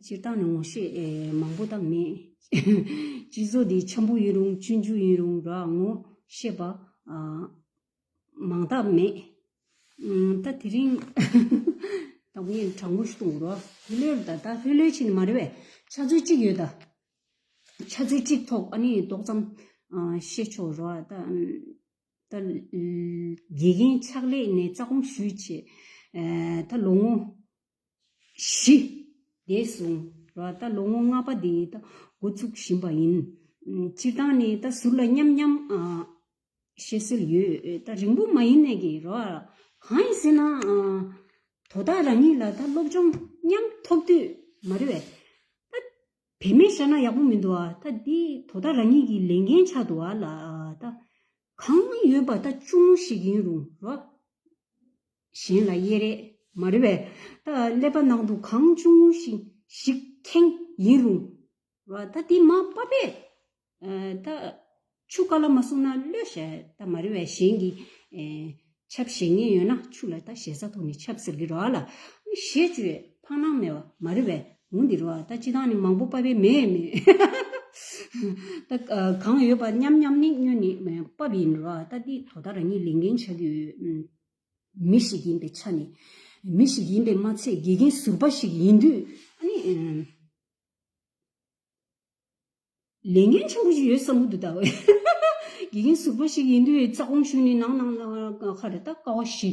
སྤྱིར་བཏང་ནི་ངོ་ཤེས་མང་པོ་དང་མི་གཅིག་བཟོ་དེ་ཆེན་པོ་ཡིན་རུང་སྤྱོད་འཇུག་ཡིན་རུང་ལ་ངོ་ཤེས་པ་མང་དག་མེད། ད་དེ་རིང་དང་པོ་ཡིན་དྲང་པོ་ཞུ་དང་རོགས། ལྷོད་ལྷོད་རེད་ད་ད་ལྷོད་ལྷོད་ཆེ་ནི་མ་རེད་བས་ཆ་ཚུལ་གཅིག་ཡོད་ད། ཆ་ཚུལ་གཅིག་ཐོག་ཨ་ནི་ཏོག་ཙམ་བཤད་ཆོག་རོགས། ད་དགེ་རྒན་ཕྱག་ལས་ནས་རྩ་དགོངས་ཞུས་ཆེད། ད་ལོ་ངོ་བཞི། འདས་སོང་བ་ད་ལོ་ངོ་ལྔ་པ་དེ་ད་འགོ་བཙུགས་བཞིན་པ་ཡིན། སྤྱིར་བཏང་ནས་ད་ཟུར་ལ་མཉམ་མཉམ་བཤད་སྲོལ་ཡོད། ད་རིང་པོ་མ་ཡིན་ནའི་གི་རོ། གང་ཡིན་ཟེར་ན། དོ་བདག་རང་ཉིད་ལ་ད་སློབ་སྦྱོང་མཉམ་ཐོབ་དུས་མ་རེད་བས། ད་བེད་མེད་བཞག་ན་ཡག་པོ་མི་འདུག་ཨ། ད་འདི་དོ་བདག་རང་ཉིད་ཀྱི་ལས་འགན་ཆགས་འདུག་ཨ་ལ། ད་གང་ཡོད་པ་ད་ཅུང་ངུ་ཞིག་ཡིན་རུང་རོགས། གཞན་ལ་གཡས་རེ། མ་རེ་བས། ད་ཀླད་པ་ནང་དུ་གང་བྱུང་ངུ་ཞིག་ཞིག་ཁེངས་ཡིན་རུང། ད་འདི་མ་པ་པས། ད་ཆུ་ཀ་ལ་མ་སོང་ན་གློད་ཞེ་ད་མ་རེ་བས་གཞན་གྱིས། ཆབ་བཞེས་ངེས་ཡོད་ན་ཆུ་ལ་ད་ཞེ་ས་ཐོག་ནས་ཆབ་ཟེར་གྱི་རོ་ཨ་ལ། ཞེས་བཅོས་ཕང་སྣང་མེད་བ་མ་རེ་བས་ངུ་འདི་རོ་ཨ་ད་ཅི་དང་ནི་མང་པོ་པ་པས་མེད་མེད། ད་གང་ཡོད་པ་མཉམ་མཉམ་ནི་སྨྱོན་ནི་པ་པས་ཡིན་རོ་ཨ་ད་འདི་དོ་ད་རང་ཉིད་ལས་འགན་ཆགས་ཀྱི་ཡོད། མི་ཞིག་ཡིན་པའི་ཆ་ནས། མི་ཞིག་ཡིན་པས་མ་ཚད་དགེ་རྒན་ཟུར་པ་ཞིག་ཡིན་དུས། ལས་འགན་ཆེན་པོ་ཞིག་ཡོད་བསམ་གྱི་འདུག་ད། དགེ་རྒན་ཟུར་པ་ཞིག་ཡིན་དུས་རྩ་དགོངས་ཞུས་ནས་ནང་ནང་ལ་ཁ་རེ་ད་ཀ་བ་བཞི།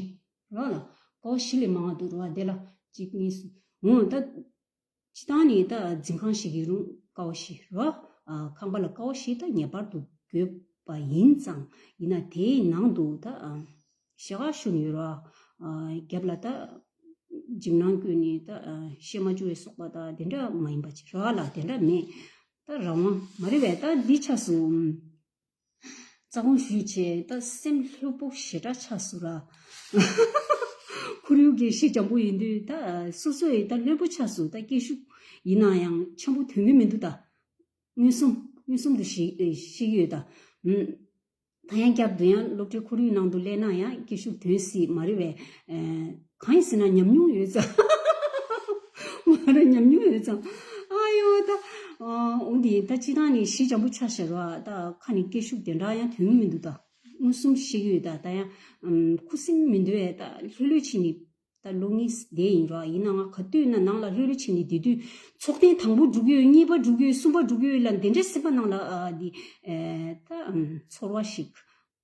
རོགས་ལ། ཀ་བ་བཞི་ལས་མང་བ་འདུག་རོགས་ཨ་དེ་ལ་གཅིག་གཉིས་གསུམ། འོན་ད། སྤྱི་བཏང་ནི་རྟ་འཛིན་ཁང་ཞིག་གི་རུང་ཀའོ་བཞི་རུ་ཨ་ཁང་པ་ལ་ཀའོ་བཞི་ད་ངེས་པར་དུ་དགོས་པ་ཡིན་ཙང་ཡིན་ན་དེའི་ནང་དུ་ད་ཞེ་ཁ་ཤུ་ནི་ཡོད་རོ། རྒྱབ་ལ་ད་འཇིམ་ནང་ཀུན་ནི་ད་ཤེ་མ་ཅུ་བའི་སོག་པ་ད་དེ་འདྲ་མ་ཡིན་པ་ཅི་ར་ལ་དེ་འདྲ་མེད། ད་རང་དབང་མ་རེ་བས་ད་འདི་ཆགས་སུ། རྩ་དགོངས་ཞུས་རྗེས་ད་སེམས་ལྷོད་པོ་ཞེ་དྲག་ཆགས་སོང་ལ། ཁོར་ཡུག་གི་གཞི་འཇམ་པོ་ཡིན་དུས་ད་སོ་སོ་ཡིས་ད་ལྷོད་པོ་ཆགས་སོང་ད་སྐད་ཤུགས་ཡིན་ན་ཡང་ཆེན་པོ་དོན་མེད་མི་འདུག་ད། མངོན་སུམ་མངོན་སུམ་དུ་ཤེས་ཀྱི་ཡོད་ད། ད་ཡང་བསྐྱར་དུ་ཡང་སློབ་གྲྭའི་ཁོར་ཡུག་ནང་དུ་སླེབས་ན་ཡང་སྐད་ཤུགས་དོན་སྲིད་མ་རེད་བས། གང་ཡིན་ཟེར་ན་ཉམས་མྱོང་ཡོད་ཙང། མ་རེད་ཉམས་མྱོང་ཡོད་ཙང། ཨ་ཡོ་ད། འོ་དེ་ཡིན་ད་སྤྱི་བཏང་ནི་གཞི་འཇམ་པོ་ཆགས་ཞེས་རོགས་ཨ་ད་ཁ་ནས་སྐད་ཤུགས་དེ་འདྲ་ཡང་དོན་ངོ་མི་འདུག་ད། མངོན་སུམ་བཤད་ཀྱི་ཡོད་ད་ད་ཡང། ཁུ་སིམ་མི་འདུག་ཨེ་ད་ལྷོད་ལྷོད་བྱེད་ནི། ད་ལོ་ངེས་བསྡད་ཡིན་རོགས་ཨ་ཡིན་ན་ང་ག་དུས་ན་ནང་ལ་ལྷོད་ལྷོད་བྱེད་ནི་དེ་དུས་ཚོགས་ཐེངས་དང་པོ་བསྒྲུགས་ཀྱི་ཡོད་གཉིས་པ་བསྒྲུགས་ཀྱི་ཡོད་གསུམ་པ་བསྒྲུགས་ཀྱི་ཡོད་ལ་འདི་འདྲའི་སེམས་པ་ནང་ལ་འདི། ད། ཚོར་བ་ཞིག།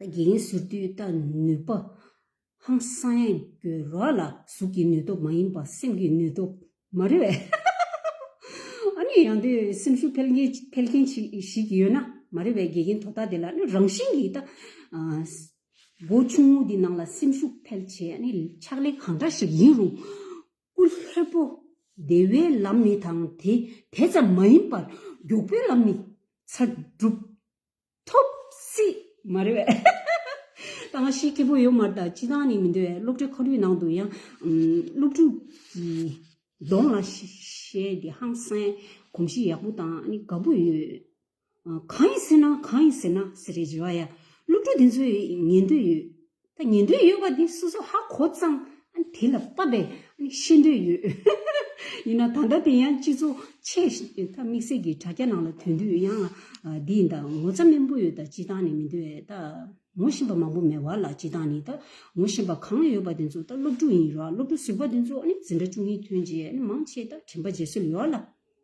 དགེ་རྒན་ཟུར་བསྡུས་ལྟ་ནུས་པ། ཧང་སང་ཡང་སྐྱོ་ར་ལ་གཟུགས་ཀྱི་ནུས་སྟོབས་མ་ཡིན་པ་སེམས་ཀྱི་ནུས་སྟོབས་མ་རེད། ཨ་ནི་ཡང་དུས་སེམས་ཤུགས་འཕེལ་མཁན་ཞིག་ཡོད་ན་མ་རེད་བས་དགེ་རྒན་དོ་བདག་དེ་ལ་ནི་རང་བཞིན་གྱིས་སྒོ་ཆུང་ངུ་འདི་ནང་ལ་སེམས་ཤུགས་འཕེལ་བྱེད་ནི་ཕྱག་ལས་གང་འདྲ་ཞིག་ཡིན་རུང་སྐུ་ལྷོད་པོ་བདེ་བའི་ལམ་ནི་དང་དེ་ཙམ་མ་ཡིན་པར་མགྱོགས་པོའི་ལམ་ནི་ཚ་སྒྲུབ་ཐུབ། སྲིད། མ་རེད། ད་ང་ཤེས་ཁེ་པོ་ཡོད་མར་ད་སྤྱི་བཏང་ནི་མི་འདུག་བས་སློབ་གྲྭའི་ཁོར་ཡུག་ནང་དུ་ཡང། སློབ་ཕྲུག་གི། གདོང་ལ་ཤེས་འདི་ཧང་སངས་གོམས་གཤིས་ཡག་པོ་དང་ནི་དགའ་པོ་ཡོད། གང་ཡིན་ཟེར་ན་གང་ཡིན་ཟེར་ན་ཟེར་རེ་བྱེད་བ་ཡ། སློབ་ཕྲུག་དེ་ཚོའི་ཉན་འདོད་ཡོད། ད་ཉན་འདོད་ཡོད་པ་དེ་སོ་སོ་ཧ་གོ་གཙང། དེ་ལ་བབ་པས་ཤེས་འདོད་ཡོད། ཡིན་ན་ད་ལྟ་དེ་ཡང་སྤྱི་ཚོགས་ཆེས་དམིགས་བསལ་གྱི་དྲ་རྒྱ་ནང་ལ་དོན་དུས་ཡང་འདི་ད་ངོ་ཚ་སྨན་པོ་ཡོད་ད་སྤྱི་བཏང་ནས་མི་འདོད་ད་ངོ་བཞིན་པ་མང་པོ་མེད་བར་ལ་སྤྱི་བཏང་ནས་ད་ངོ་བཞིན་པ་གང་ཡོད་པ་དེ་ཚོ་ད་སློབ་ཕྲུག་ཡིན་རོགས་སློབ་ཕྲུག་ཟུར་པ་དེ་ཚོ་འཛིན་གྲྭ་བཅུ་གཉིས་ཐོན་རྗེས་མང་ཆེས་ད་དྲིན་པ་བརྗེད་སྲོལ་ཡོད་ལ།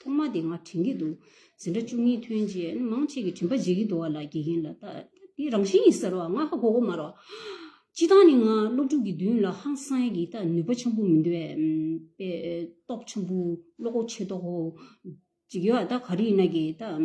ཐོག་མ་དེ་ང་དྲན་གྱི་འདུག་ཟིན་གྲྭ་བཅུ་གཉིས་ཐོན་རྗེས་མང་ཆེ་གི་དྲན་པ་བརྗེད་ཀྱི་འདུག་བ་ལ་དགེ་རྒན་ལ་ལྟ་དེ་རང་བཞིན་ཡིན་ཟེར་བ་ང་ཧ་གོ་གོ་མ་རོགས། སྤྱི་བཏང་ནི་ང་སློབ་ཕྲུག་གི་མདུན་ལ་ཧང་སངས་ཀྱི་ལྟ་ནུས་པ་ཆེན་པོ་མི་འདུག་བས། པའི་སྟོབས་ཆེན་པོ་བློ་ཁོག་ཆེ་མདོག་གཅིག་ཡོད་ལྟ་ག་རེ་ཡིན་ན་གི་ལྟ།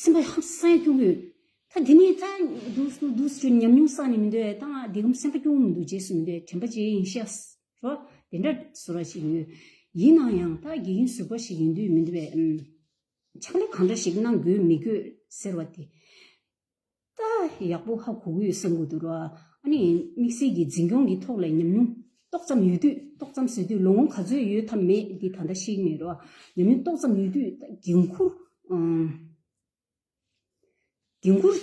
སེམས་པ་ཧམ་སེམས་སྐྱོ་གི། ད་དེ་ནི་ད་འདུག་སུ་ཉམས་མྱོང་བསགས་ནས་མི་འདུག་ད་ང་དེ་གམ་སེམས་པ་སྐྱོ་བོ་མི་འདུག་རྗེས་སུ་མི་འདུག་དྲན་པ་ཅི་ཡིན་ཤེས་ཨ། རོ། དེ་འདྲ་བཟོ་ར་ཞིག་ཡོད། ཡིན་ནང་ཡང་ད་དགེ་རྒན་ཟུར་པ་ཞིག་ཡིན་དུས་མི་འདུག་པས། ཕྱག་ལས་གང་འདྲ་ཞིག་གནང་དགོས་མི་དགོས་ཟེར་བ་དེ། རྟགས་ཡག་པོ་ཧ་གོ་དགོས་བསམ་གོ་འདུག་རོགས་ཨ་ནི་དམིགས་བསལ་གྱི་འཛིན་སྐྱོང་གི་ཐོག་ལས་ཉམས་མྱོང་ཏོག་ཙམ་ཡོད་དུས་ཏོག་ཙམ་བཟོས་དུས་ལོ་ངོ་ག་ཚོད་ཡོད་ཐབས་མེད་འདི་ད་ལྟ་ཤེས་ཀྱི་མེད་རོགས་ཉམས་མྱོང་ཏོག་ཙམ་ཡོད་དུས་ད་འགན་འཁུར་འགན་འཁུར་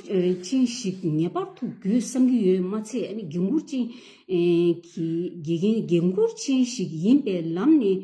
ཅན་ཞིག་ངེས་པར་དུ་དགོས་བསམ་གྱི་ཡོད་མ་ཚད་ཨ་ནི་འགན་འཁུར་ཅན་གྱི་འགན་འཁུར་ཅན་ཞིག་ཡིན་པའི་ལམ་ནས་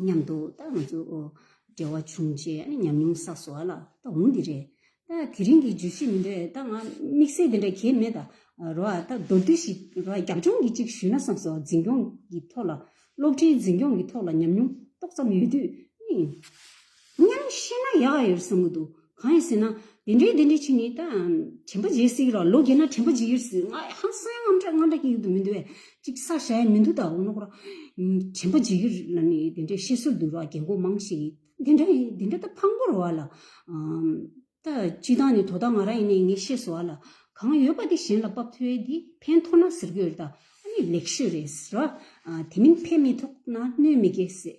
མཉམ་དུ་བཏགས་ན་འཇུག། འབྲེལ་བ་བྱུང་རྗེས་ཉམས་མྱོང་བསགས་སོ་ཨ་ལ་ད་འོང་འདི་རེད། དེ་རིང་གི་བརྗོད་གཞི་འདི་འདྲ་ད་ང་དམིགས་བསལ་འདི་འདྲ་གལ་མེད་ད་རོ་ཨ་ད་མདོར་བསྡུས་ཤིག་རོ་ཨ་རྒྱབ་ལྗོངས་ཀྱི་གཅིག་ཞུས་ན་བསམས་སོ་འཛིན་སྐྱོང་གི་ཐོག་ལ་སློབ་གྲྭའི་འཛིན་སྐྱོང་གི་ཐོག་ལ་ཉམས་མྱོང་ཏོག་ཙམ་ཡོད་དུས་ནི། སྙམ་བཤད་ན་ཡག་ཡོད་བསམ་གྱི་འདུག་གང་ཡིན་ཟེར་ན། དེ་འདྲའི་དེ་འདྲའི་ཆེ་ནས་ད། དྲན་པ་བརྗེད་སྲིད་ར་ལོ་རྒས་ན་དྲན་པ་འཇིག་ཡོད་སྲིད་ང་ཡང་ཧང་སངས་ངམ་འདྲ་ང་འདྲ་ཀྱི་ཡུལ་དུ་མི་འདུག་བས་ཅིག་ས་བྱ་ཡ་མི་འདུག་ད་འོ་ན་ཁོ་རང། དྲན་པ་འཇིག་ཡོད་ལ་ནི་དེ་འདྲའི་བཤད་སྲོལ་འདུག་ར་རྒས་འགོ་མང་ཞིག་དེ་འདྲ་ཡིན་དེ་འདྲ་ད་ཕག་འགོར་བ་ལ། ད་སྤྱི་བཏང་ནས་དོ་བདག་ང་རང་ཡིན་ནས་ངས་བཤད་སྲོལ་བ་ལ། གང་ཡོད་པ་དེ་གཞན་ལ་པབ་ཐོའི་དེ་ཕན་ཐོག་ན་ཟེར་གྱི་ཡོད་རེད་ད་ཨ་ནི་ལེགས་ཤོས་རེད་ར། དེ་མིན་ཕན་མི་ཐོག་ན་གནོད་མི་དགོས་ཟེར།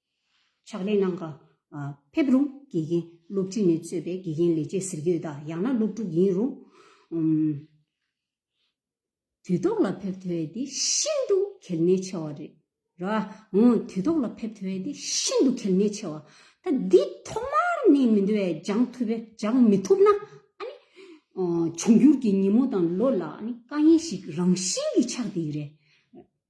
ཕྱག་ལེན་གནང། ཕེབས་རུང་དགེ་རྒན་སློབ་ཁྲིད་ནས་གཙོས་པའི་དགེ་རྒན་ལས་བྱེད་ཟེར་གྱི་ཡོད་དཱ་ཡང་ན་སློབ་ཕྲུག་ཡིན་རུང། དུས་ཐོག་ལ་ཕེབས་ཐུབ་བས་དེ་ཤིན་ཏུ་གལ་གནད་ཆེ་བ་རེད། དུས་ཐོག་ལ་ཕེབས་ཐུབ་བས་དེ་ཤིན་ཏུ་གལ་གནད་ཆེ་བ། ད་འདི་ཐོག་མར་ནས་མི་འདི་བས་སྦྱང་ཐུབ་བས་སྦྱང་མི་ཐུབ་ན། འབྱུང་འགྱུར་གྱི་ཉིན་མོ་དང་ལོ་ལ་དཀའ་ངལ་ཞིག་རང་བཞིན་གྱིས་ཆགས་འདི་རེད།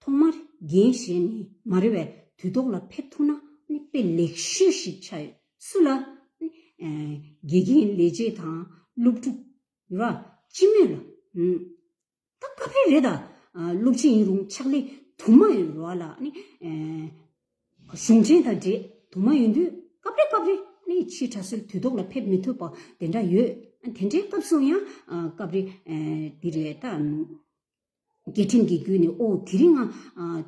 ཐོག་མར་རྒན་གཞས་ནས་མ་རེད་བས་དུས་ཐོག་ལ་ཕེབས་ཐུབ་ན་དཔེ་ལེགས་ཤོས་ཤིག་ཆགས་ཡོད་སུ་ལ། དགེ་རྒན་ལས་བྱེད་དང་སློབ་ཕྲུག་ར་ཅི་མོད་ལ། ད་དཀའ་འཕེལ་རེད་ད་སློབ་ཆེན་ཡིན་རུང་ཕྱག་ལས་དུ་མ་ཡོད་རོགས་ལ། གཞུང་ཆེན་དང་འདྲེས་དུ་མ་ཡོད་དུས་སྐབས་རེ་སྐབས་རེ་ཕྱིའི་གྲྭ་སུལ་དུས་ཐོག་ལ་ཕེབས་མི་ཐུབ་པ་དེ་འདྲ་ཡོད་དེ་འདྲའི་སྐབས་སུ་ཡང་སྐབས་རེ་འདི་རེད་ད། རྒྱལ་ཁྲིམས་ཀྱི་བརྒྱུད་ནས་ཨོ་དེ་རིང་ང་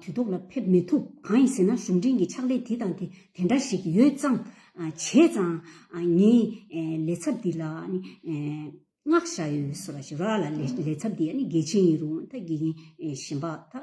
དུས་ཐོག་ལ་ཕེབས་མི་ཐུབ་གང་ཡིན་ཟེར་ན་གཞུང་འབྲེལ་གྱི་ཕྱག་ལས་དེ་དང་དེ་དེ་འདྲ་ཞིག་ཡོད་ཙང་བྱས་ཙང་ངས་ལས་ཚབ་འདི་ལ་བསྔགས་བཞག་ཡོད་ཟེར་བ་ཞིག་རག་ལ་ལས་ཚབ་འདི་ཡ་ནི་དགེ་ཆེན་ཡིན་རུང་ད་དགེ་རྒན་གཞན་པ་ད།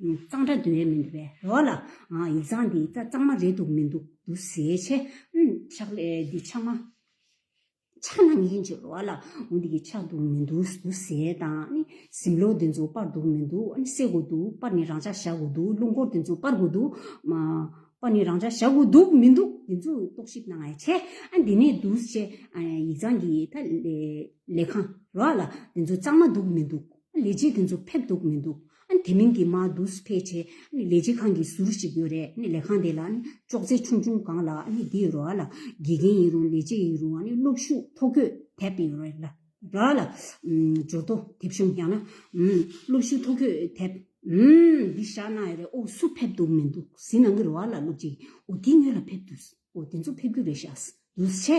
གཙང་སྦྲ་འདོད་ཡས་མི་འདུག་པས་རོགས་ལ། ཡིག་ཚང་འདི་རྩ་གཙང་མ་རེད་འདུག་མི་འདུག་འདུག་ཟེར་བྱས། ཕྱག་ལས་འདི་ཕྱག་མ། ཕྱག་ན་ངན་ཅིག་རོགས་ལ། འོ་འདི་གི་ཕྱག་འདུག་མི་འདུག་འདུག་ཟེར་དང། གཟིམ་ལོག་འདི་ཚོ་སྤར་འདུག་མི་འདུག་བསད་དགོས་འདུག་སྤར་ནི་རང་འཇགས་བཞག་དགོས་འདུག་རླུང་འཁོར་འདི་ཚོ་སྤར་དགོས་འདུག། སྤར་ནི་རང་འཇགས་བཞག་དགོས་འདུག་མི་འདུག་འདི་ཚོ་རྟོག་ཞིབ་གནང་ཡས་བྱས། འདི་ནས་འདུག་བྱས། ཡིག་ཚང་འདི་ད། ལས་ཁང་རོགས་ལ། འདི་ཚོ་གཙང་མ་འདུག་མི་འདུག། ལས་བྱེད་དེ་ཚོ་ཕེབས་འདུག་མི་འདུག་དེ་མིན་གྱི་མ་དུས་ཕལ་ཆེ་ལས་བྱེད་ཁང་གི་ཟུར་ཞིག་ཡོད་རེད་ལས་ཁང་དེ་ལ་ཅོག་ཙེ་ཆུང་ཆུང་གང་ལ་དེའི་རོ་ལ་དགེ་རྒན་ཡིན་རུང་ལས་བྱེད་ཡིན་རུང་གློག་ཤུགས་ཐོ་འགོད་དེབ་ཡོད་རེད་ལ་ར་ལ་འབྱོར་ཐོ་དེབ་གཞུང་ཡང་ན་གློག་ཤུགས་ཐོ་འགོད་དེབ་འདི་བཞག་གནང་ཡོད་རེད་འུ་སུ་ཕེབས་འདུག་མི་འདུག་ཟི་ནང་གི་རོ་ལ་སློབ་ཅིག་འུ་དེ་ཉོས་ལ་ཕེབས་དུས་འུ་དེ་ཚོ་ཕེབས་རྒྱུ་རེད་བཞག་དུས་ཆེ།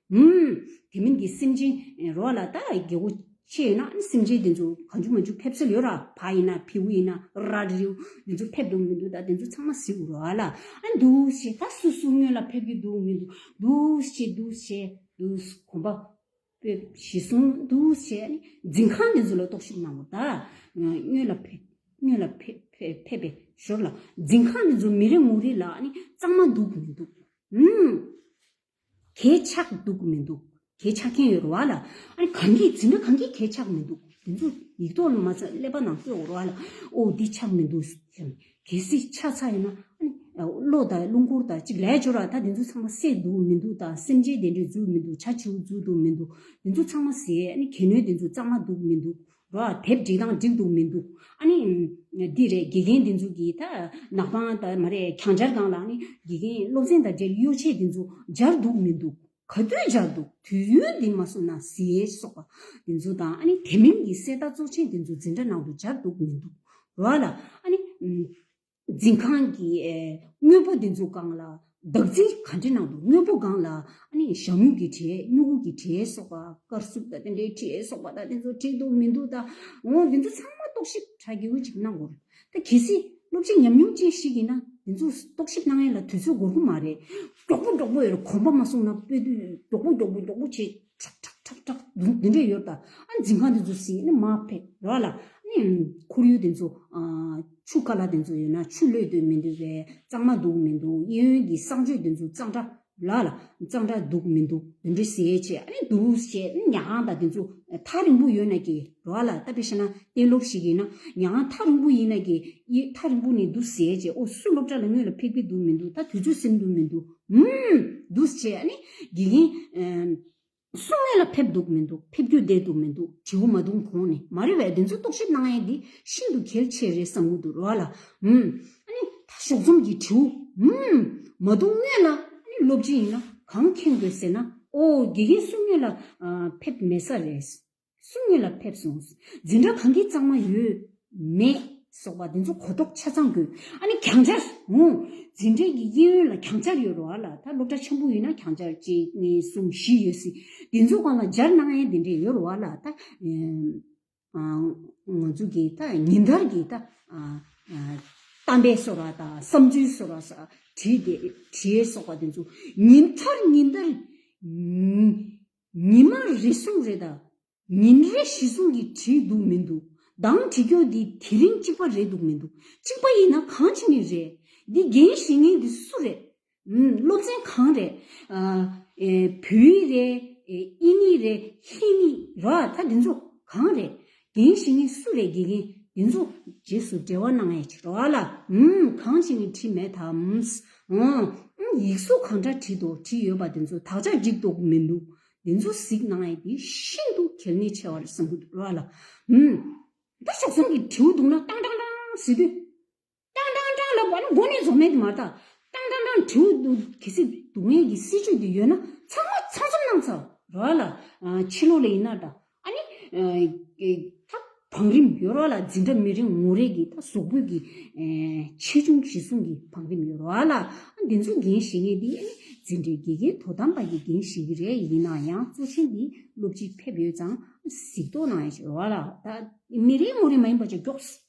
ཧཱུྃ། དེ་མིན་གྱི་སེམས་ཅན་རོ་ལ་ད་རེ་རྒྱལ་བོ་ཆེ་ཡོད་ན་སེམས་ཅན་དེ་ཚོ་གང་འཇུག་མ་འཇུག་ཕེབས་སྲོལ་ཡོད་ར་བ་ཡིན་ན་བེའུ་ཡིན་ན་ར་རིའུ་དེ་ཚོ་ཕེབས་འདུག་མི་འདུག་ད་དེ་ཚོ་ཚང་མ་ཟིག་རོ་ལ་འདུག་ཞེས་ད་སུ་སུ་སྔོན་ལ་ཕེབས་ཀྱི་འདུག་མི་འདུག་འདུག་ཞེས་འདུག་ཞེས་འདུག་གོམ་པ་སྤོས་ཞེས་གསུངས་འདུག་ཞེས་ནི་འཛིན་ཁང་དེ་ཚོ་ལ་རྟོག་ཞིབ་གནང་བ་ད་སྔོན་ལ་ཕེབས་སྔོན་ལ་ཕེབས་པའི་ཞོར་ལ་འཛིན་ཁང་དེ་ཚོ་མི་རེ་ངོ་རེ་ལ་ནི་གཙང་མ་འདུག་མི་འདུག་ཧཱུྃ། གས་ཆགས་འདུག་མི་འདུག་གས་ཆགས་ཀྱིན་ཡོད་རེད་བ་ལ། ཨ་གང་གིས་འཛིན་གྲྭ་གང་གིས་གས་ཆགས་མི་འདུག་དེ་ཚོ་ཡིག་ཐོག་ལ་མ་ཚ་ཀླད་པ་ནང་བསྐྱོད་འོང་རོགས་ཨ་ལ། ཨོའོ་འདི་ཆགས་མི་འདུག་སེམས་གས་སྲིད་ཆགས་ཚ་ཡོད་ན། གློ་དང་རླུང་འཁོར་དང་གཅིག་ལས་སྦྱོར་བ་ད་དེ་ཚོ་ཚང་མ་བསད་འདུག་མི་འདུག་དང་སེམས་ཅན་བདེ་འགྲོས་འཛུགས་མི་འདུག་བྱ་བྱིའུ་འཛུགས་འདུག་མི་འདུག་དེ་ཚོ་ཚང་མ་བཟས་གས་ནུས་དེ་ཚོ་གཙང་མ་འདུག་མི་འདུག། རོ། དེབ་སྒྲིག་སྟངས་འགྲིག་འདུག་མི་འདུག་ཨ་ནི། འདི་རེད་དགེ་རྒན་འདི་ཚོ་གིས་ད་ནག་པང་དང་མ་རེད་གྱང་སྦྱར་སྟངས་ལ་ནི་དགེ་རྒན་སློབ་ཚན་དང་འབྲེལ་གཡོ་ཆས་འདི་ཚོ་སྦྱར་འདུག་མི་འདུག་ག་དུས་སྦྱར་འདུག་དུས་ཡུན་འདི་མ་སོང་ན་ཟེར་སོགས་པ་འདི་ཚོ་དང་ཨ་ནི་དེ་མིན་གྱི་གསལ་བརྡ་གཙོ་ཆེན་འདི་ཚོ་འཛིན་གྲྭ་ནང་དུ་སྦྱར་འདུག་མི་འདུག་རོ། ཨ་ལ་ཨ་ནི། འཛིན་ཁང་གིས་དངོས་པོ་འདི་འཛུགས་སྒང་ལ་བདག་འཛིན་ག་འདྲི་གནང་འདུག་དངོས་པོ་སྒང་ལ་ཞྭ་མོ་ཀི་དྲེད་སྨྱུ་གུ་ཀི་དྲེད་སོགས་པ་དཀར་སུབ་དང་དེ་འདྲའི་དྲེད་སོགས་པ་དང་དེ་ཚོ་དྲེད་འདུག་མི་འདུག་ད་འོང་དེ་ཚོ་ཚང་མ་རྟོག་ཞིབ་དྲ་གི་འུ་ཅིག་གནང་དགོས་རེད་གལ་སྲིད་སློབ་སྤྱི་ཉམས་མྱོང་ཅན་ཞིག་ཡིན་ན་དེ་ཚོ་རྟོག་ཞིབ་གནང་ཡས་ལ་དུས་ཚོད་འགོར་གི་མ་རེད་མགྱོགས་པོ་མགྱོགས་པོ་ཡོད་རེད་གོམ་པ་མ་སྲུང་ན་དཔེ་དུས་མགྱོགས་པོ་མགྱོགས་པོ་མགྱོགས་པོ་བྱེད་ཁྲག་ཁྲག་ཁྲག་ཁྲག་འདི་འདྲས་ཡོད་ད་ཨ་འཛིན་ཁང་དེ་ཚོ་ཟིག་ནི་མ་ཕེབས་རོགས་ལ་ནི་ཁོར་ཡུག་དེ་ཚོ་ཆུ་ཀ་ལ་དེ་ཚོ་ཡོད་ན་ཆུ་བློས་དོད་མི་འདུག་བས་གཙང་མ་འདུག་མི་འདུག་གཡས་གཡོན་གྱི་གསང་སྤྱོད་དེ་ཚོ་གཙང་སྦྲ་ལ་ལ་གཙང་སྦྲ་འདུག་མི་འདུག་འདི་འདྲས་ཟས་བྱས་ཨ་ནི་འདུག་བྱས་ནི་ཉག་ཁང་དང་དེ་ཚོ་ཐག་རིང་པོ་ཡོད་ན་གི་རོགས་ལ་ལྟ་བུ་ཤེ་ན་གཏན་སློབ་ཞིག་ཡིན་ན་ཉག་ཁང་ཐག་རིང་པོ་ཡིན་ན་གི་གཡས་ཐག་རིང་པོ་ནས་འདུག་ཟས་བྱས་ཨོ་སུ་སློབ་གྲྭ་ལ་དངོས་ལ་ཕེབས་གི་འདུག་མི་འདུག་ད་དུས་ཚོད་སེམས་འདུག་མི་འདུག། འདུག་ཅེས་ཨ་ནི། དགེ་རྒན། སུ་ངེད་ལ་ཕེབས་འདུག་མི་འདུག་ཕེབས་རྒྱུ་བསྡད་འདུག་མི་འདུག་དྲི་བ་མ་བཏུང་གོང་ནས་མ་རེད་བས་དེ་ཚོ་རྟོག་ཞིབ་གནང་ཡས་འདི་ཤིན་ཏུ་གལ་ཆེ་རེད་བསམ་གྱི་འདུག་རོ་ཨ་ལ། ཨ་ནི། ད་ཞོགས་རྩོམ་གྱི་དྲི་བོ། མ་བཏུང་ངེད་ལ་ཨ་ནི་སློབ་སྤྱི་ཡིན་ན་གང་ཁེངས་དགོས་ཟེར་ན་ཨོ་དགེ་རྒན་སུ་ངེད་ལ་ཕེབས་མེད་ས་རེད། སུ་དངོས་ལ་ཕེབས་སོང། འཛིན་གྲྭ་གང་གི་གཙང་མ་ཡོད། མེད། སོགས་པ་འདི་ཚོ་གོ་རྟོགས་ཆ་ཚང་དགོས། ཨ་ནི་གྱང་ཆར། ཧུང། འཛིན་གྲྭའི་གི་དབྱིན་ཡུལ་ལ་གྱང་ཆར་ཡོད་རོ་ཨ་ལ་ད་སློབ་གྲྭ་ཆེན་པོ་ཡིན་ན་གྱང་ཆར་གཅིག་གཉིས་གསུམ་བཞི་ཡོད་སྲིད། འདི་ཚོ་གང་ལ་སྦྱར་སྣང་ཨའི་འདི་འདྲས་ཡོད་རོ་ཨ་ལ་ད། ང་ཚོ་གི་ད་ཉིན་ལྟར་གི་ད། གཏམ་དཔེ་སོ་ར་ད་བསམ་ཚུལ་སོ་ར་ས་བྲིས་བྲིས་སོགས་པ་འདི་ཚོ་ཉིན་ལྟར་ཉིན་ལྟར། ཉིན་མ་རེ་གསུམ་རེ་དང། ཉིན་རེ་བཞི་གསུམ་གྱིས་བྲིས་འདུག་མི་འདུག་གདངས་བྲི་འཁྱོག་འདི་དེ་རིང་གཅིག་པ་རེད་འདུག་མི་འདུག་གཅིག་པ་ཡིན་ན་གང་ཅི་ནས་རེད། འདི་རྒན་བཤེས་ངན་འདི་སུ་རེད། སློབ་ཚན་གང་རེད། བོད་ཡིག་རེད། དབྱིན་ཡིག་རེད་ཧིན་ཡིག་ར་ད་འདི་ཚོ་གང་རེད། གདེང་ཞིག་ནི་སུ་ལས་དགེ་རྒན་འདི་ཚོ་རྗེས་སུ་འབྲེལ་བ་གནང་ཡས་ཆེ་རོ་ཨ་ལ་འམ་གང་ཅི་ནི་བྲིས་མེད་དམ། འོང། ཡིག་གཟུགས་གང་འདྲ་བྲིས་འདུག་བྲིས་ཡོད་པ་འདི་ཚོ་དག་ཆ་འགྲིག་འདུག་མི་འདུག་འདི་ཚོ་གཟིགས་གནང་ཡས་འདི་ཤིན་ཏུ་གལ་གནད་ཆེ་བ་རེད་བསམ་གྱི་འདུག་རོ་ཨ་ལ་འམ། ད་ཞོགས་སམ་གྱི་དྲིའུ་འདུག་ན་ཏང་ཏང་ཏང་ཟེར་དུས། ཀྲང་ཀྲང་ཀྲང་ལབ་པ་ནི་དགོན་གནས་རྫོགས་མེད་དུ་མ་བཏགས། ཀྲང་ཀྲང་ཀྲང་དྲེའུ་སྡུག་གི་སྲིད་སྡུག་བསྔལ་གྱི་སྲིད་ཇུས་དེ་ཡོད་ན་ཚང་མ་ཚང་འཛོམས་གནང་ཚར་རོགས་ལ། ཕྱི་ལོགས་ལ་ཡིན་ན་དང་ཨ་ནི། ད་བང་རིམ་ཡོད་རོགས་ལ་འཛིན་གྲྭ་མི་རེ་ངོ་རེ་གི་ད་གཟུགས་པོད་ཀྱི། ཆེ་ཆུང་བཞི་གསུམ་གྱི་བང་རིམ་ཡོད་རོགས་ལ། འདི་ཚོ་འགན་བཞེས་མཁན་དེ་ཨ་ནི་འཛིན་གྲྭའི་དགེ་རྒན་དོ་དམ་པ་གྱི་འགན་བཞེས་ཀྱི་རེད་ཡིན་ན་ཡང་གཙོ་ཆེན་དེ་སློབ་སྤྱི་ཕེབས་ཡོད་ཙང་གཟིགས་རྟོག་གནང་ཡོད་ཤག་རོགས་ལ། ད་མི་རེ་ངོ་རེ་མ་ཡིན་པ་ཅིག་མགྱོགས།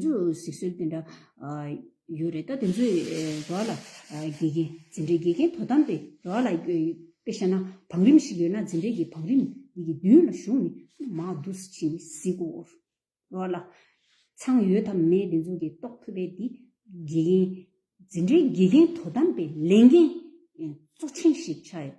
ཚོ་ཟིག་སྲོལ་དེ་འདྲ་ཡོད་རེད་ད་དེ་ཚོའི་རོགས་ལ་དགེ་རྒན་འཛིན་གྲྭའི་དགེ་རྒན་དོ་དམ་པའི་རོགས་ལ་དཔེ་ཤ་ན་བང་རིམ་ཞིག་ཡོད་ན་འཛིན་གྲྭའི་གི་བང་རིམ་དེ་གི་མདུན་ལ་བཞུགས་ནས་མ་བསྡུ་ས་ཕྱིན་ཟིག་གོ། རོགས་ལ། ཚང་ཡོད་དམ་མེད་དེ་ཚོ་གི་རྟོགས་ཐུབ་པའི་དེ་དགེ་རྒན། འཛིན་གྲྭའི་དགེ་རྒན་དོ་དམ་པའི་ལས་འགན་གཙོ་ཆེན་ཞིག་ཆགས་ཡོད།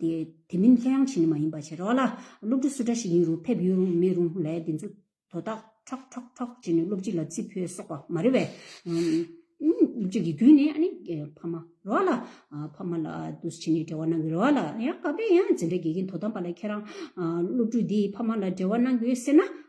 དེ་མིན་ལྷོད་ཡངས་ཆེ་ནི་མ་ཡིན་པ་བྱེད་རོགས་ལ། སློབ་ཕྲུག་སུ་འདྲ་ཞིག་ཡིན་རུང་ཕེབས་ཡོད་རུང་མེད་རུང་ལས་འདི་ཚོ་དོ་བདག་ཁྲོག་ཁྲོག་ཁྲོག་བྱེད་ནས་སློབ་སྤྱི་ལ་རྩིས་འཕོས་གསོག་པ་མ་རེད་བས། སློབ་སྤྱི་དགེ་རྒྱུན་ནས་ཨ་ནི་ཕ་མ་རོགས་ལ། ཕ་མ་ལ་དུ་ཕྱིན་ནས་འབྲེལ་བ་གནང་གི་རོགས་ལ། ཡང་ག་པའི་ཡང་འཛིན་གྲྭ་དགེ་རྒན་དོ་དམ་པ་ལ་ཁྱེད་རང་སློབ་ཕྲུག་འདིས་ཕ་མ་ལ་འབྲེལ་བ་གནང་དགོས་ཟེར་ན།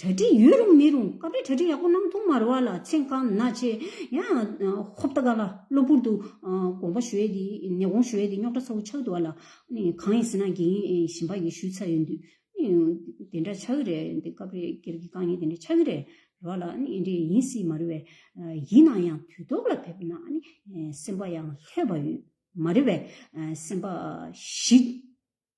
གྲ་སྒྲིག་ཡོད་རུང་མེད་རུང་སྐབས་རེ་གྲ་སྒྲིག་ཡག་པོ་གནང་ཐུབ་མ་རུང་བ་ལ་ཚེ་གང་ན་ཆེ། ཡང་ཧོབ་ད་ག་ལ་གློ་བུར་དུ་དགོངས་པ་ཞུས་ཏེ་ནད་དགོངས་ཞུས་ཏེ་རྙོག་དྲ་ཚ་བོ་ཆགས་འདུག་བ་ལ། གང་ཡིན་ཟེར་ན་དགེ་རྒན་གཞན་པ་ཡིས་ཞུས་ཚར་ཡོད་འདུག་དེ་འདྲ་ཆགས་ཀྱི་རེད་འདི་སྐབས་རེ་སྒེར་གྱི་དཀའ་ངལ་དེ་འདྲ་ཆགས་ཀྱི་རེད་རུང་བ་ལ་དེ་འདྲ་ཡིན་སྲིད་མ་རུང་བས། ཡིན་ན་ཡང་དུས་ཐོག་ལ་ཕེབས་ན་སེམས་པ་ཡང་ལྷོད་པ་ཡོད་མ་རེད་བས་སེམས་པ་ཞི།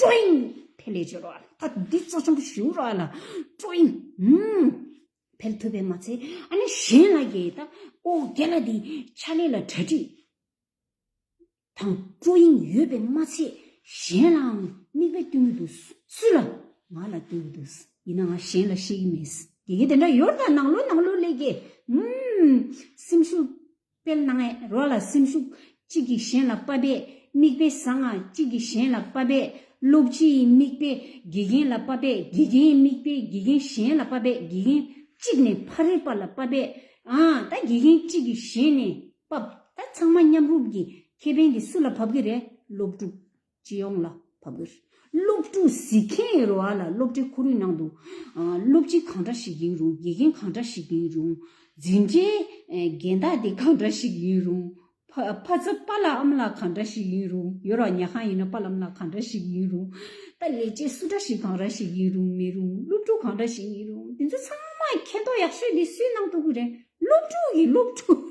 ཀྲོིང། ཕལ་ལས་སྦྱོར་བ་ལ་ད་འདི་གཙོ་ཆེན་པོ་ཞུ་རོགས་ལ། ཀྲོིང། ཧུམ། ཕལ་ཐུབ་པས་མ་ཚད་ཨ་ནི་གཞན་ལ་ཡེ་ད་ཨོ་རྒྱ་ལ་འདི་ཕྱག་ལས་ལ་གྲ་སྒྲིག་དང་ཀྲོིང་ཡོད་པས་མ་ཚད་གཞན་ལའང་དམིགས་པའི་སྟོན་གི་འདུག་སུ་ལ་ང་ལ་སྟོན་གི་འདུག་ཡིན་ན་ང་གཞན་ལ་ཤེས་ཀི་མེད་དགེ་རྒན་དེ་འདྲ་ཡོད་ད་ནང་ལོ་ནང་ལོ་ལས་དགེ། ཧུམ། སེམས་སུ། དཔེར་ན་ངའི་རོ་ལ་སེམས་ཤུགས་གཅིག་གིས་གཞན་ལ་དཔའ་བས་དམིགས་པའི་གསང་སྔགས་གཅིག་གིས་གཞན་ལ་དཔའ་བས་སློབ་སྤྱི་ཡི་དམིགས་པས་དགེ་རྒན་ལ་དཔའ་བས་དགེ་རྒན་ཡི་དམིགས་པས་དགེ་རྒན་གཞན་ལ་དཔའ་བས་དགེ་རྒན་གཅིག་ནས་ཕ་རོལ་པ་ལ་དཔའ་བས་ད་དགེ་རྒན་གཅིག་གིས་གཞན་ནས་དཔའ། ད་ཚང་མ་མཉམ་རུབ་ཀྱིས་ཁེ་ཕན་འདི་སུ་ལ་བབ་ཀྱི་རེད་སློབ་ཕྲུག་སྤྱི་ཡོངས་ལ་ཕབ་དགོས། སློབ་ཕྲུག་གཟིགས་མཁན་ཡོད་རུང་བ་ལ་སློབ་གྲྭའི་ཁོར་ཡུག་ནང་དུ། སློབ་སྤྱི་གང་འདྲ་ཞིག་ཡིན་རུང་དགེ་རྒན་གང་འདྲ་ཞིག་ཡིན་རུང། འཛིན་གྲྭའི་རྒན་བདག་དེ་གང་འདྲ་ཞིག་ཡིན་རུང། ཕ་ཚ་པ་ལ་ཨམ་ལགས་གང་འདྲ་ཞིག་ཡིན་རུང་ཡོད་རུང་བ་ཉལ་ཁང་ཡིན་ན་པ་ལ་ཨམ་ལགས་གང་འདྲ་ཞིག་ཡིན་རུང། ད་ལས་བྱེད་སུ་འདྲ་ཞིག་གང་ར་ཞིག་ཡིན་རུང་མིན་རུང་སློབ་ཕྲུག་གང་འདྲ་ཞིག་ཡིན་རུང་དེ་ཚོ་ཚང་མ་མཁྱེན་རྟོགས་ཡག་ཤོས་དེ་སུའི་ནང་དུ་དགོས་རེད། སློབ་ཕྲུག་གིས་སློབ་ཕྲུག།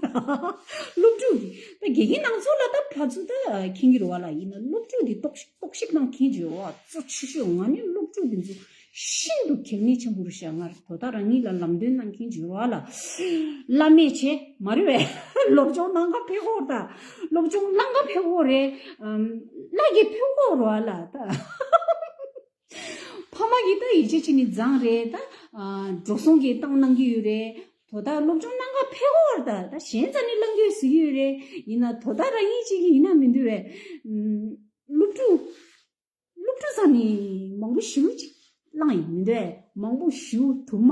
སློབ་ཕྲུག་གིས། ད་དགེ་རྒན་དང་ཚོགས་ལ་ད་ཕ་ཚོ་ད་ཁྱེད་ཀྱི་རོ་བ་ལ་ཡིན་ན་སློབ་ཕྲུག་འདི་རྟོག་ཤིག་རྟོག་ཤིག་དང་ཁྱེད་ཀྱི་རོ་བ་གཙོ་ཆེ་ཤོས་ང་ནི་སློབ་ཕྲུག་འདི་ཚོ་ཤིན་ཏུ་གལ་གནད་ཆེན་པོ་རུ་བཞག་སྔར་དོ་ད་རང་ཉིད་ལ་ལམ་སྟོན་གནང་མཁན་གྱི་རོ་བ་ལ་བླ་མེད་ཆེ་མ་རེད་བས་སློབ་སྦྱོང་གནང་སྐབས་ཕེ་ཧོར་ད་སློབ་སྦྱོང་གནང་སྐབས་ཕེ་ཧོར་རེད་བླ་རྒྱལ་ཕེ་ཧོར་རོ་བ་ལ་ད། ཕ་མ་གིས་ད་ཡིག་ཆ་ཆེ་ནི་བརྫངས་རེད་ད། འགྲོ་སོང་གིས་བཏང་གནང་གི་ཡོད་རེད། དོ་བདག་སློབ་སྦྱོང་གནང་སྐབས་ཕེ་ཧོར་ད་ད་གཞན་རྩ་ནི་བླངས་དགོས་ཟེར་གྱི་ཡོད་རེད། ཡིན་ན་དོ་བདག་རང་ཉིད་ཅིག་གིས་ཡིན་ན་མི་འདུལ་བས། སློབ་ཕྲུག། སློབ་ཕྲུག་ཚང་ནི་མང་པོ་ཞུ་ཅིག་བླངས་ཡིན་མི་འདུལ་བས་མང་པོ་ཞུ་དུ་མ།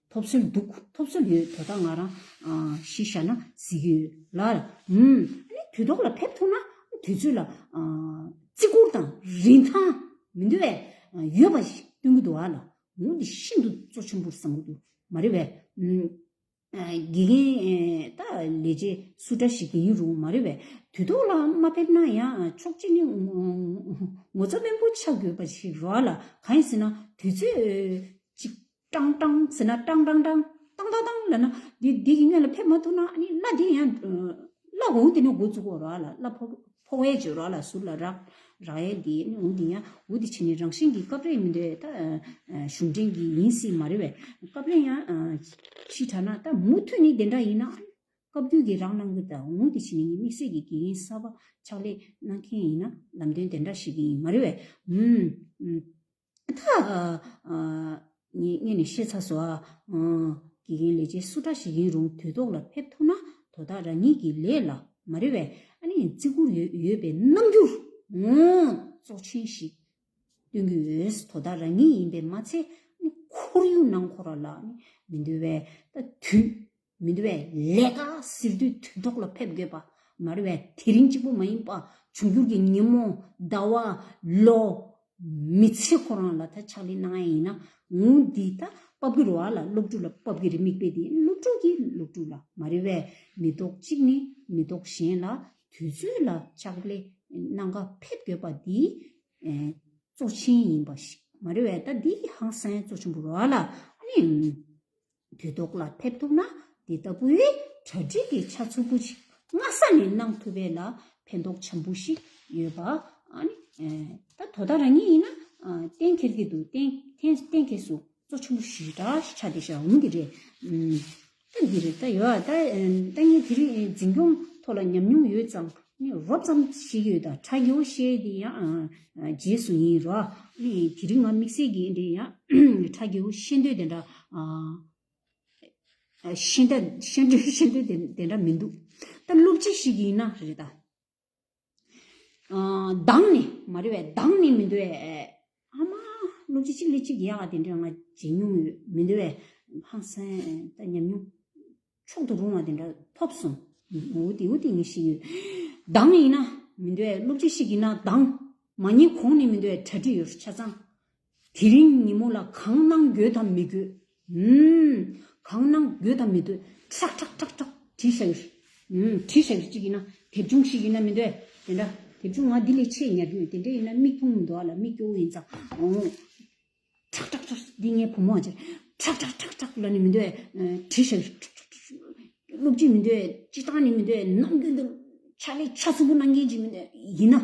ཐོབ་སྲོལ་འདུག་ཐོབ་སྲོལ་ཡོད་དོ་ད་ང་རང་གཞི་བཞག་ན་གཟིགས་ཡོད་ལ། ཨཱ་ནི་དུས་ཐོག་ལ་ཕེབས་ཐུབ་ན་དུས་ཚོད་ལ་བརྩི་བཀུར་དང་རིན་ཐང་མི་འདུ་བས་ཡོད་པ་ཞིག་སྟོན་གྱི་འདུག་ཨ་ལ་འོང་དེ་ཤིན་ཏུ་གཙོ་ཆེན་པོར་བསམ་གྱི་འདུག་མ་རེད་བས། དགེ་རྒན་ད་ལས་རྗེས་སུ་འདྲ་ཞིག་ཡིན་རུང་མ་རེད་བས་དུས་ཐོག་ལ་མ་ཕེབས་ན་ཡང་ཆོག་གཅིག་ནི་ངོ་ཚ་དམན་པོ་ཆགས་དགོས་པ་ཞིག་རོ་ཨ་ལ་གང་ཡིན་ཟེར་ན་དུས་ཚོད་ཅིག་ཀྲང་ཀྲང་ཟེར་ན་ཀྲང་ཀྲང་ཀྲང། ཏང་ཏང་ཏང་ལས་ན། འདི་འདི་ཡིན་ངེས་ལ་ཕེབས་མ་ཐུབ་ན་ནི་གླ་དེ་ཡང། གླ་འོང་དེ་ནི་འོ་བཙུགས་འོ་རག་ལ་གླ་ཕོ་ཕོ་བའི་བྱོས་རོགས་ལ་ཟུར་ལ་རག། རག་ཡས་འདི་ནི་འོང་དེ་ཡང་འོ་དེ་བྱས་ནི་རང་བཞིན་གྱི་སྐབས་རེ་མི་འདོད་ད། གཞུང་འབྲེལ་གྱི་ཡིན་སྲིད་མ་རེད་བས་སྐབས་རེ་ཡང། ཞེས་གྲགས་ན་ད་མུ་མཐུད་ནི་དེ་འདྲ་ཡིན་ན། སྐབས་རྒྱུན་གྱི་རག་གནང་གི་ད་འོང་དེ་བྱས་ནི་ངས་དམིགས་བསལ་གྱི་དགེ་རྒན་གསར་པ་ཕྱག་ལས་གནང་མཁན་ཡིན་ན་ལམ་སྟོན་དེ་འདྲ་ཞིག་གི་ཡིན་མ་རེད་བས། ངས་ནི་ཤེས་ཚར་སོང། དགེ་རྒན་ལས་བྱེད་སུ་འདྲ་ཞིག་ཡིན་རུང་དུས་ཐོག་ལ་ཕེབས་ཐུབ་ན་དོ་བདག་རང་ཉིད་ཀྱི་ལས་ལ་མ་རེ་བས་བརྩི་བཀུར་ཡོད་པའི་རྣམ་འགྱུར་གཙོ་ཆེན་ཞིག་སྟོན་གྱི་ཡོད། དོ་བདག་རང་ཉིད་ཡིན་པས་མ་ཚད་ཁོར་ཡུག་ནང་ཁོ་རང་ལ་མི་འདོད་པའི་དུས། མི་འདུ་བའི་ལས་ཀ་ཟེར་དུས་དུས་ཐོག་ལ་ཕེབས་དགོས་པ་མ་རེད་བས་དེ་རིང་གཅིག་པུ་མ་ཡིན་པ་འབྱུང་འགྱུར་གྱི་ཉིན་མོ་ཟླ་བ་ལོ། མི་ཚེ་ཁོ་རང་ལ་ད་ཕྱག་ལས་གནང་ཡས་ཡིན་ནའང་འདི་ད་དཔའ་བོའི་རོ་ཨ་ལ་སློབ་ཕྲུག་ལ་དཔའ་བོའི་རེ་མིག་པས་དེ་སློབ་ཕྲུག་གིས་སློབ་ཕྲུག་ལ་མ་རེད་བས་མི་ཐོག་གཅིག་ནས་མི་ཐོག་གཞན་ལ་དུས་ཚོད་ལ་ཕྱག་ལས་གནང་ཀ་ཕེབས་དགོས་པ་འདི་གཙོ་ཆེན་ཡིན་པ་ཞིག་མ་རེད་བས་ད་འདི་ཧང་སངས་གཙོ་ཆེན་པོ་རོ་ཨ་ལ་ཨ་ནི། འགྱུར་ལྡོག་ལ་ཕེབས་ཐུབ་ན་འདི་ལྟ་བུའི་གྲ་སྒྲིག་གི་ཆ་ཚུར་བུ་ཞིག་སྔ་ས་ནས་གནང་ཐུབ་པས་ལ་ཕན་ཐོགས་ཆེན་པོ་ཞིག་ཡོད་པ་ད་དོ་ད་རང་ཉིད་ཡིན་ན་གཏན་འཁེལ་གྱི་འདུག་གཏན་འཁེལ་སུ་གཙོ་ཆེན་པོ་ཞིག་གྲ་ཞིག་ཆགས་ཏེ་ཞག་འོང་གི་རེད། ད་འདི་རེད་ད་ཡོད་ད་ངས་དེ་རིང་འཛིན་སྐྱོང་ཐོག་ལ་ཉམས་མྱོང་ཡོད་ཙང་ནས་རོབ་ཙམ་ཞིག་ཡོད་ད་ཁྲ་ཡོ་ཤེས་དེ་ཡང་རྗེས་སུ་ཡིན་རོ། དེ་རིང་ང་དམིགས་བསལ་གྱིས་དེ་ཡང་ཁྲ་ཡོ་ཤེས་འདོད་དེ་འདྲ། ཤེས་འདོད་ཤེས་འདོད་དེ་འདྲ་མི་འདུག་ད་སློབ་སྤྱི་ཞིག་ཡིན་ན་རེད་ད། སྡང་ནི་མ་རེད་བས་སྡང་ནི་མི་འདུག་བས། ཨ་མ། གླུ་གཅིག་གཅིག་ལས་གཅིག་ཡག་ཨ་དེ་འདྲ་ང་བྱེད་མྱོང་ཡོད་མི་འདུག་བས། ཧང་སངས་ད་ཉམས་མྱོང། མཆོག་ཏུ་རུང་བ་དེ་འདྲ་ཐོབ་སོང། འུ་དེ་འུ་དེ་ངས་ཤེས་ཡོད། འདང་ཡིན་ན། མི་འདུག་བས་གླུ་གཅིག་ཤིག་ཡིན་ན་འདང། མ་ཉེས་གོང་ནས་མི་འདུག་བས་གྲ་སྒྲིག་ཡོད་ཆ་ཚང། དེ་རིང་ཉིན་མོ་ལ་གང་གནང་དགོས་དམ་མི་དགོས། གང་སྣང་འགྱོད་དང་མི་འདོད་ཁྲག་ཁྲག་ཁྲག་ཁྲག་བྲིས་བྱ་གྱུར། བྲིས་བྱ་གྱུར་ཅིག་ཡིན་ན་དེབ་ཆུང་ཞིག་ཡིན་ན་མི་འདོད་དེ་འདྲ། དེབ་ཆུང་ང་འདི་ལས་ཆེས་ཉར་རྒྱུ་ཡོད་དེ་འདྲ་ཡིན་ན་མིག་ཕུང་མི་འདུག་ཨ་ལ་མིག་སྐྱོ་བོ་ཡིན་ཙང། ཁྲག་ཁྲག་ཁྲག་འདི་ངའི་བུ་མོ་ཨ་ཅེ། ཁྲག་ཁྲག་ཁྲག་ཁྲག་ལ་ནི་མི་འདོད་བྲིས་བྱ་གྱུར། སློབ་ཁྲིད་མི་འདོད་སྤྱི་བཏང་ནི་མི་འདོད་ནམ་རྒྱུན་དུ་ཕྱག་ལས་ཆ་ཚུགས་པོ་གནང་མཁན་ཅིག་མི་འདོད་ཡིན་ན།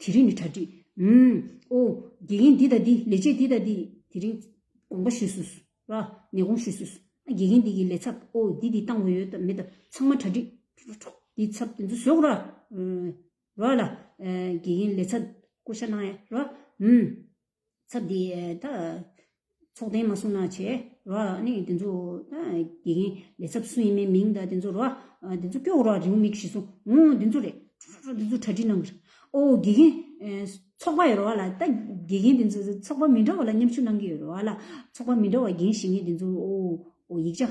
དེ་རིང་ནི་གྲ་སྒྲིག། ཨོ། དགེ་རྒན་འདི་དང་འདི་ལས་བྱེད་འདི་དང་འདི། དེ་རིང། དགོངས་པ་ཞུས་སོས། ར། ནས་དགོངས་ཞུས་སོས། ཨ། དགེ་རྒན་འདི་གི་ལས་ཚབ། ཨོ། འདི་འདི་བཏང་འོས་ཡོད་དམ་མེད་དམ་ཚང་མ་གྲ་སྒྲིག། ཁྲོ། འདི་ཚབ་དེ་ཚོ་ཞོག་ར། ར། ལ། དགེ་རྒན་ལས་ཚབ། བསྐོ་བཞག་གནང་ཡ། ར། ཚབ་དེ་ད་ཚོགས་གཏན་མ་གསུང་ན་བྱས་རོ་ནི་དེ་ཚོ་ད་དགེ་རྒན་ལས་ཚབ་སུ་ཡིན་མིན་མིང་ད་དེ་ཚོ་རོ་དེ་ཚོ་སྐྱོ་བོ་རོ་རེའུ་མིག་ཞིག་སོང་ངོ་དེ་ཚོ་རེད་ཁྲོ་ཁྲོ་ཁྲོ་དེ་ཚོ་གྲ་སྒྲིག་གནང་གི་རེད་ཨོ་དགེ་རྒན་ཚོགས་པ་ཡི་རོ་ལ་ད་དགེ་རྒན་དེ་ཚོ་ཚོགས་པ་མི་འདྲ་བ་ལ་མཉམ་ཞུགས་གནང་གི་ཡོད་རོ་ལ་ཚོགས་པ་མི་འདྲ་བ་རྒན་ཞིག་ངེས་དེ་ཚོ་ཡིག་ཆ།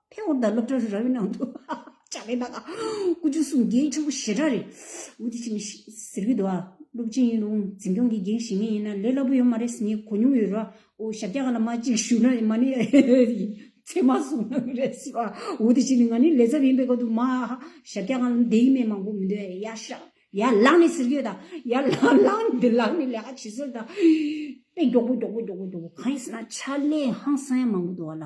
ཕེ་ཧོར་ཟླ་སློབ་གྲྭ་ར་བའི་ནང་དུ། ལྕགས་ལས་ནག། སྐུ་རྒྱུ་སུམ་བརྒྱའི་ཆུ་བོ་བཞི་སྒྲ་རེད། འུ་དེ་ཆིངས་ཟེར་གི་འདུག་ཨ། སློབ་ཆེན་ཡིན་རུང་འཛིན་སྐྱོང་གིས་འགེངས་བཞིན་ངེས་ཡིན་ན་ལས་སླ་པོ་ཡོད་མ་རེད་ཟེར་ངས་གོ་མྱོང་ཡོད་རོ། འོ་ཞབས་རྒྱ་ག་ལ་མ་གཅིག་བཞུགས་ན་མ་ནི་ཚད་མ་བཟུང་ན་མི་རེད་ཟེར་བ། འུ་དེ་ཆིངས་ནི་ང་ནི་ལས་ཚབ་ཡིན་པའི་སྐབས་དུ་མ། ཞབས་རྒྱ་ག་ལ་འདེ་ཡིན་མེད་མང་པོ་མི་འདོད་ཨ། ཡ་ཤ། ཡ་ལང་ནི་ཟེར་གི་ཡོད་ད། ཡ་ལང་ལང་འདི་ལང་ནི་ལས་ཀ་བྱེད་སྲོལ་ད། དཔེ་མགྱོགས་པོ་མགྱོགས་པོ་མགྱོགས་པོ་མགྱོགས་པོ་གང་ཡིན་ཟེར་ན་ཕྱག་ལས་ཧང་སང་ཡང་མང་པོ་འདུག་ཨ་ལ།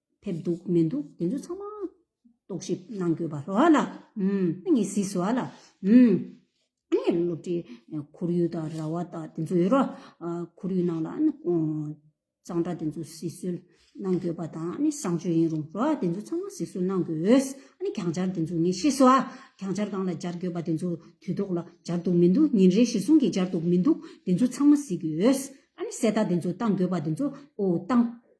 ཕེབས་འདུག་མི་འདུག་དེ་ཚོ་ཚང་མ་རྟོག་ཞིབ་གནང་དགོས་པ་རོགས་ལ། ཨ་ངས་ཟིགས་སོ་ཨ་ལ། ཨ་ངས་སློབ་གྲྭའི་ཁོར་ཡུག་དང་ར་བ་དང་དེ་ཚོ་ཡོད་རོགས། ཁོར་ཡུག་ནང་ལ་གཙང་སྦྲ་དེ་ཚོ་ཟིགས་སུལ་གནང་དགོས་པ་དང་བཟང་སྤྱོད་ཡིན་རུང་རོགས་དེ་ཚོ་ཚང་མ་ཟིགས་སུལ་གནང་དགོས། གྱང་ཆར་དེ་ཚོ་ངས་ཤེས་སོ་ཨ། གྱང་ཆར་གང་ལ་སྦྱར་དགོས་པ་དེ་ཚོ་དུས་ཐོག་ལ་སྦྱར་འདུག་མི་འདུག་ཉིན་རེའི་གཞིར་བཟུང་གིས་སྦྱར་འདུག་མི་འདུག་དེ་ཚོ་ཚང་མ་ཟིགས་དགོས། གསལ་བརྡ་དེ་ཚོ་བཏང་དགོས་པ་དེ་ཚོ་བཏང།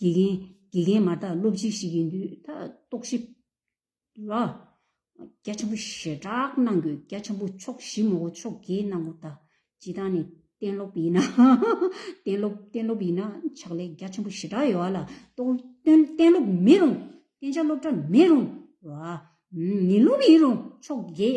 དགེ་རྒན་དགེ་རྒན་མ་དག་སློབ་སྤྱི་ཞིག་ཡིན་དུས་ད་རྟོག་ཞིབ་ལ་སྐྱ་ཆེན་པོ་ཞེ་དྲག་གནང་དགོས་སྐྱ་ཆེན་པོ་ཕྱོགས་བཞི་མོག་གོ་ཕྱོགས་བརྒྱད་གནང་གོ་ད་སྤྱི་དང་ནི་གཏན་སློབ་ཡིན་ན་གཏན་སློབ་གཏན་སློབ་ཡིན་ན་ཕྱག་ལས་རྒྱ་ཆེན་པོ་ཞེ་དྲག་ཡོད་ལ་གཏན་སློབ་མིན་རུང་གཏན་ཆགས་སློབ་གྲྭ་མིན་རུང་རོ་ཨ་ནི་སློབ་ཡིན་རུང་ཕྱོགས་བརྒྱད་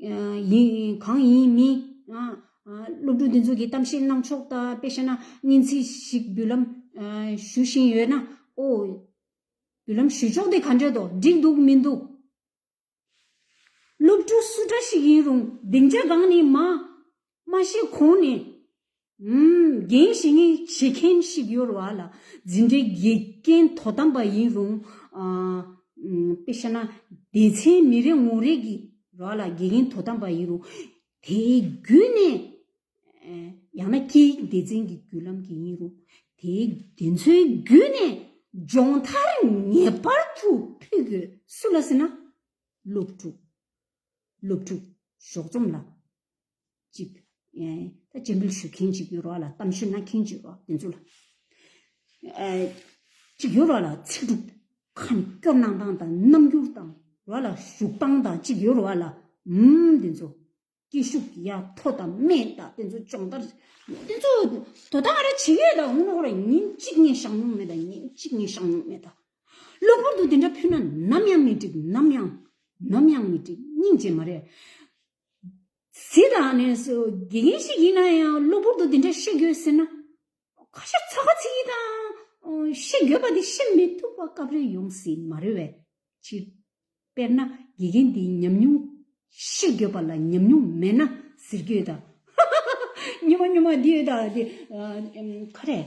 གང་ཡིན་མིན། སློབ་ཕྲུག་འདི་ཚོ་གི་གཏམ་བཤད་གནང་ཕྱོགས་ལྟ་དཔེ་བཤད་ན་སྙན་ཚིག་ཞིག་བརྒྱུད་ལམ་ཞུ་བཞིན་ཡོད་ན་ཨོ། བརྒྱུད་ལམ་ཞུ་ཕྱོགས་དེ་ག་འདྲས་དོ་འགྲིག་འདུག་མི་འདུག། སློབ་ཕྲུག་སུ་འདྲ་ཞིག་ཡིན་རུང་སྡིངས་ཆ་སྒང་ནས་མ། མ་གཞི་ཁོང་ནི། འགན་བཞེས་ངེས་བྱེད་མཁན་ཞིག་ཡོད་རེད་བ་ལ། འཛིན་གྲྭའི་དགེ་རྒན་དོ་དམ་པ་ཡིན་རུང། དཔེ་བཤད་ན། སྡེ་ཚན་མི་རེ་ངོ་རེ་གི་ར་ལ་དགེ་རྒན་དོ་དམ་པ་ཡིན་རུང། དེའི་བརྒྱུད་ནས། ཡང་ན་སྐད་ཡིག་སྡེ་ཚན་གྱི་བརྒྱུད་ལམ་གྱིས་ཡིན་རུང། དེའི་དེ་ཚོའི་བརྒྱུད་ནས་སྦྱོང་མཐར་ངེས་པར་དུ་ཕུལ་དགོས་སུ་ལ་ཟེར་ན། སློབ་ཕྲུག། སློབ་ཕྲུག། ཞོགས་རྩོམ་ལ། ཅིག། དཔྱད་འབུལ་ཞུ་མཁན་ཅིག་ཡོད་རོགས་ལ་གཏམ་བཤད་གནང་མཁན་ཅིག་རོགས་དེ་ཚོ་ལ། ཅིག་ཡོད་རོགས་ལ་ཚིག་གྲུབ་ཁ་ནས་སྐྱོར་གནང་སྟངས་དང་རྣམ་འགྱུར་དང་རོགས་ལ་བཞུགས་སྟངས་དང་ཅིག་ཡོད་རོགས་ལ་འམ་དེ་ཚོ། སྐད་ཤུགས་ཀྱི་ཡ་ཐོག་དང་སྨད་དང་དེ་ཚོ་སྦྱོང་བརྡར། དེ་ཚོ་དོ་དང་ར་བྱེད་ཡོད་དང་འོན་རོགས་ལ་ཉིན་གཅིག་ངས་བཞག་མྱོང་མེད་དང་ཉིན་གཅིག་ངས་བཞག་མྱོང་མེད་དང། གློ་བུར་དུ་དེ་འདྲ་ཕུལ་ན་ནམ་ཡང་མི་འགྲིག་ནམ་ཡང། ནམ་ཡང་མི་འགྲིག་སྙིང་རྗེ་མ་རེད། གཟི་དང་གནས་སུ་དགེ་རྒན་ཞིག་ཡིན་ན་ཡང་གློ་བུར་དུ་འདི་འདྲ་བཤད་དགོས་ཟེར་ན། ཁ་ཤས་ཚ་ཁ་ཚིག་གིས་དང། བཤད་དགོས་པ་དེ་བཤད་མི་ཐུབ་པ་སྐབས་རེ་ཡོང་སྲིད་མ་རེད་བས། སྤྱིར། དཔེར་ན་དགེ་རྒན་འདིའི་ཉམས་མྱོང། བཤད་དགོས་པ་ལ་ཉམས་མྱོང་མེད་ན་ཟེར་རྒྱུ་ཡོད་དམ། ཧཧཧ་སྨྱོ་མ་སྨྱོ་མ་འདི་ཡོད་དམ། ཁ་རེད།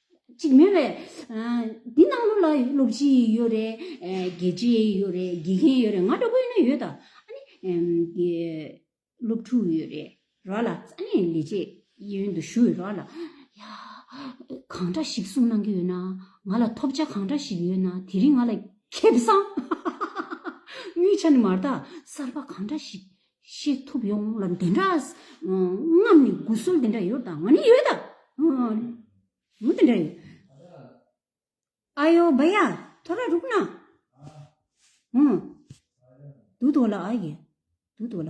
ཅིག་མེད་པས། འདི་སྣང་ངོ་ལ་སློབ་སྤྱི་ཡོད་རེད། དགེ་རྒྱས་ཡོད་རེད་དགེ་རྒན་ཡོད་རེད་ང་འདྲ་པོ་ཡིན་ན་ཡོད་ད། སློབ་ཕྲུག་ཡོད་རེད་རོགས་ལ། ལས་བྱེད་གཡས་གཡོན་དུ་བཞུགས་ཡོད་རོགས་ལ། ཡ། གང་འདྲ་ཞིག་གསུང་གནང་གི་ཡོད་ན། ང་ལ་ཐོབ་བྱ་གང་འདྲ་ཞིག་ཡོད་ན་དེ་རིང་ང་ལ་ཁེབས་སམ། དངུལ་ཆ་ནི་མར་དག་གསར་པ་གང་འདྲ་ཞིག་བཤད་ཐུབ་ཡོང་ལ་འདི་འདྲ་རྔམ་ནི་དགུ་སོ་འདི་འདྲ་ཡོད་དང་ནི་ཡོད་དམ་འདི་འདྲ་ཡོད། ཨ་ཡོ་བ་ཡ་ཐོ་ར་རུག་ན། འདུག་འདུག་ལ་ཨ་ཡེ་འདུག་འདུག་ལ།